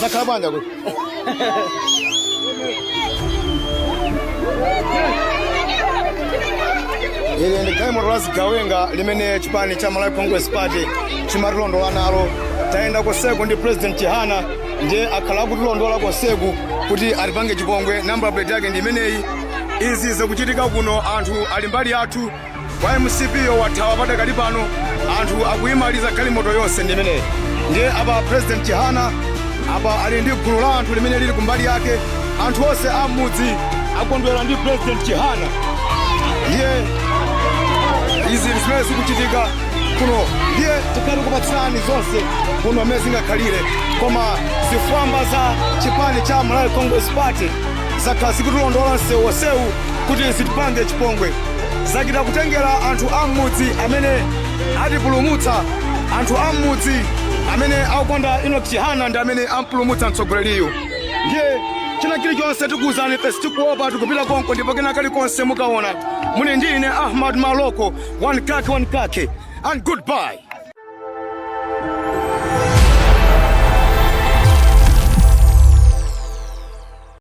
zakhala bwanji kuti ili ndi galimoto la zigawenga limene chipani cha malawi congress party chimatilondola nalo tayenda konseku ndi president chihana ndiye akhala akutilondola konseku kuti atipange chipongwe nambala plate yake ndi imeneyi izi zikuchitika kuno anthu ali mbali yathu a mcp wo wathawa padakali pano anthu akuyimaliza galimoto yonse ndi imeneyi ndiye apa president chihana apa ali ndi gulu la anthu limene lili kumbali yake anthu onse a m'mudzi akondwera ndi president chihana ndiye izi zimene zikuchitika kuno ndiye tizikupatsirani zonse kuno mmene zingakhalire koma zifwamba za chipani cha malawi congress party zakhala zikutilondola msewu onsewu kuti zitipange chipongwe zachita kutengera anthu a m'mudzi amene atipulumutsa anthu a m'mudzi amene akukonda inoki chihana ndi amene ampulumutsa mtsogoleriyu ndiye china chilichonse tikuwuzani ife sitikuopa tikupita konko ndipo kena kalikonse mukaona muli ndi ine ahmad maloko one kake one kake and goodbye